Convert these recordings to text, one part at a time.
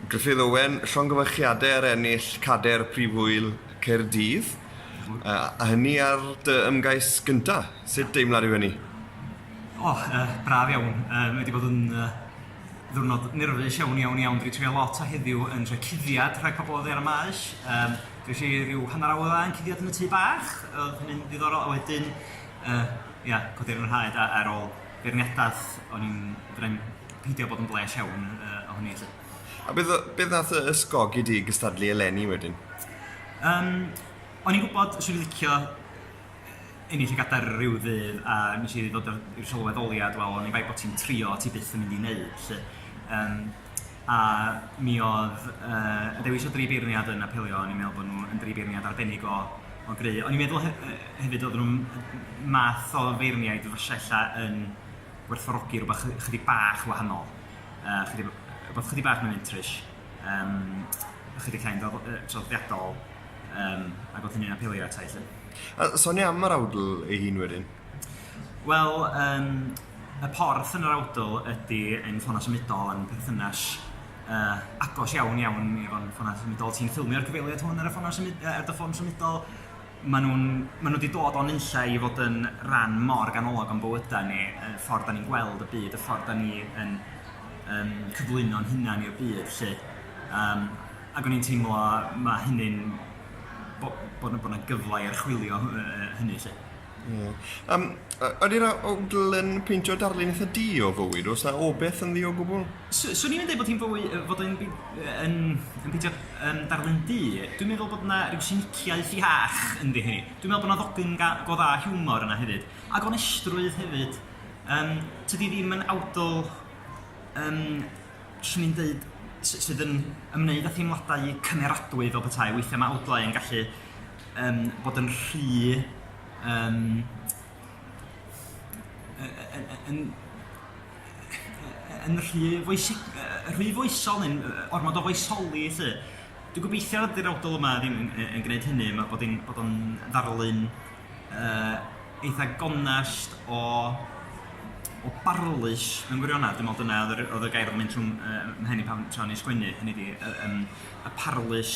Gruffydd Owen, llongyfarchiadau ar ennill cadair Prif Ŵyl Caerdydd, a hynny ar dy ymgais gynta'. Sut deimlad yw hynny? O, yy, braf iawn. Yy, mae wedi bod yn yy, ddiwrnod nyrfus iawn, iawn, iawn. Dwi'n trio lot o heddiw yn rhoi cuddiad rhag pobl oddi ar y maes. Yym, dwi'n rhi rhyw hanner awr dda yn cuddiad yn y tŷ bach, oedd hynny'n ddiddorol, a wedyn, yy, ia, codi ar yr haid a- ar ôl beirniadaeth, o'n i'n... fedra i'm peidio bod yn blês iawn uh, ohoni lle. A beth, beth nath y ysgogi di gystadlu eleni wedyn? Um, o'n i'n gwybod sy'n i'n licio ennill y gadair rhyw ddydd a nes i ddod i'r sylweddoliad, wel, o'n i'n bai bod ti'n trio, ti byth yn mynd i wneud, lle. Um, A mi oedd yy y dewis o dri beirniad yn apelio, o'n i'n meddwl bod nhw yn dri beirniad arbennig o o gry', o'n i'n meddwl he- yy hefyd oedden nhw'n m- math o feirniaid fyse ella yn werthfawrogi rwbath chy- chydig bach wahanol, yy chydig b- rwbath chydig bach mwy mentrus, yym chydig llai o yy traddodiadol, yym ac oedd hynny'n apelio ata i 'lly. A sonia am yr awdl ei hun wedyn? Wel yym Y porth yn yr awdl ydy ein ffona symudol yn perthynas uh, agos iawn iawn i efo'n ffona symudol. Ti'n ffilmio'r cyfeiliad hwn ar y ffona symud, ar dy ffôn symudol. Maen nhw'n maen nhw wedi dod o'n unlla i fod yn rhan mor ganolog o'n bywydau ni, y ffordd da ni'n gweld y byd, y ffordd da ni yn um, cyflwyno'n hunan i'r byd. Lle. Um, ac o'n i'n teimlo mae hynny'n bod yna gyfle i archwilio hynny. Lle. Ie. Yym, y- ydy'r a- awdl yn peintio darlun eitha du o fywyd, oes 'na obeth ynddi o gwbl? S- swn i'm yn deud bod hi'n fwy yy fod o'n by- yy yn yn peidio yym darlun du, dwi'n meddwl bod 'na ryw siniciaeth iach ynddi hi. Dwi'n meddwl bod 'na ddogyn ga- go dda o hiwmor yna hefyd, a gonestrwydd hefyd. Yym, tydi hi ddim yn awdl yym, swn i'n deud, s- sydd yn ymwneud â theimladau cymeradwy fel petai, weithiau mae awdlau yn gallu um, bod yn rhy um, yn, yn, yn rhy, foesig, rhy foesol neu'n ormod o foesoli lle. Dwi'n gobeithio nad yw'r awdol yma ddim yn, yn, yn gwneud hynny, mae bod, bod o'n ddarlun uh, eitha gonest o o barlus mewn gwirionedd, dwi'n meddwl dyna oedd y gair oedd mynd trwy'n uh, mhen i pan tra'n ei sgwennu, hynny di, uh, um, y parlus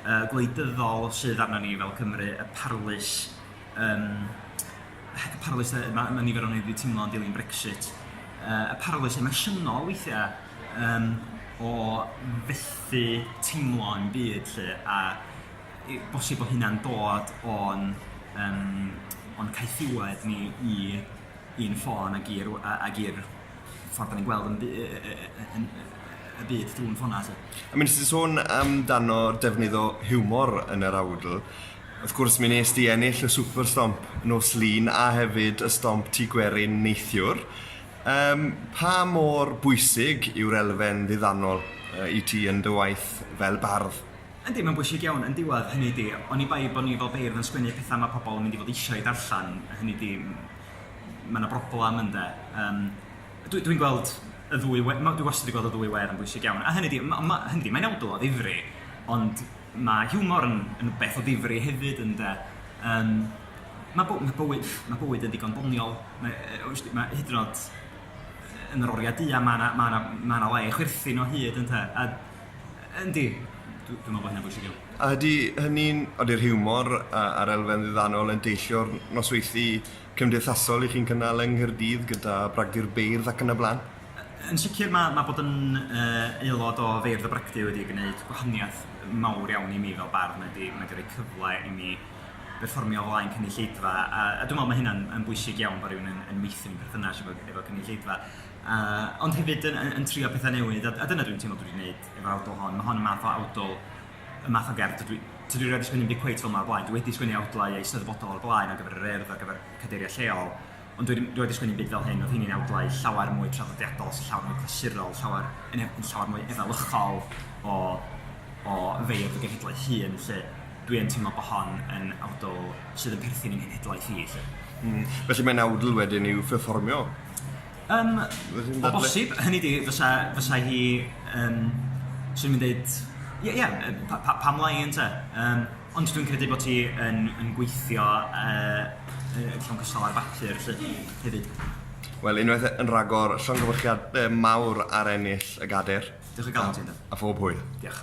yy gwleidyddol sydd arnon ni fel Cymru, y parlys yym y parlys yy ma' ma' nifer ohonyn ni 'di teimlo'n dilyn Brexit yy y parlys emosiynol weithia' yym o fethu teimlo'n byd 'lly a i- bosib bo' hynna'n dod o'n yym o'n caethiwed ni i i'n ffôn ag i'r w- a- ag i'r ffordd da ni'n gweld yn y byd drwy'n ffona lly. I mean, ti'n sôn amdano defnydd o hiwmor yn yr awdl, wrth gwrs mi nes di ennill y Super Stomp nos lun a hefyd y Stomp Tŷ Gwerin neithiwr. Um, pa mor bwysig yw'r elfen ddiddanol uh, i ti yn dy waith fel bardd? Yndi, mae'n bwysig iawn yn diwedd hynny di. Oni bai bod ni fel beirdd yn sgwennu pethau mae pobl yn mynd i fod eisiau darllen, hynny di mae yna broblem ynde. Um, Dwi'n dwi gweld y ddwy, dwi wastad wedi gweld y ddwy wer yn bwysig iawn. A hynny di, ma, ma, hynny di, mae'n awdl o ddifri, ond mae hiwmor yn, yn beth o ddifri hefyd ynde. Um, mae, by, mae, bywyd, mae bywyd yn ddigon doniol, mae, mae hyd yn oed yn yr oriau du a mae yna ma ma ma le i chwerthin o hyd ynte. A, yndi, dwi'n dwi meddwl bod hynny'n bwysig iawn. A ydy hynny'n, ydy'r hiwmor a'r elfen ddiddannol yn deillio'r nosweithi cymdeithasol i chi'n cynnal yng Nghaerdydd gyda Bragdy'r Beirdd ac yn y blaen? Yn sicr mae mae bod yn uh, aelod o Feirdd y Bragdy wedi gwneud gwahaniaeth mawr iawn i mi fel bardd, mae wedi, mae wedi rhoi cyfle i mi berfformio o flaen cynulleidfa, a, a dwi'n meddwl mae hynna'n yn bwysig iawn bod rhywun yn, yn meithrin perthynas efo, efo cynulleidfa. Uh, ond hefyd yn, yn, yn trio pethau newydd, a, a dyna dwi'n teimlo dwi wedi gwneud efo awdl hon. Mae hon yn math o awdl y math o gerdd dydw i... tydw i 'rioed 'di sgwennu 'm byd cweit fel 'ma o'r blaen, dwi wedi sgwennu awdlau eisteddfodol o'r blaen ar gyfer yr Urdd, ar gyfer cadeiriau lleol, ond dwi 'rioed 'di sgwennu 'm byd fel hyn, oedd rheini'n awdlau llawer mwy traddodiadol, llawer mwy clasurol, llawer... yn erbyn llawer mwy efelychol o... o feirdd y genhedlaeth hŷn 'lly, dwi yn teimlo bod hon yn awdl sydd yn perthyn i'n nhenhedlaeth i 'lly. Felly mae'n awdl wedyn i'w pherfformio? Yym, o bosib, hynny ydi, fysa, fysa hi yn, swn i'n dweud, ie, ie, pa- pa- pam lai ynte? Yym, ond dwi'n credu bod hi yn yn gweithio yy yy yn llawn cystal ar bapur 'lly, hefyd. Wel, unwaith e- yn rhagor, llongyfarchiadau mawr ar ennill y Gadair... Diolch o galon ti, Andy. ...a phob hwyl. Diolch.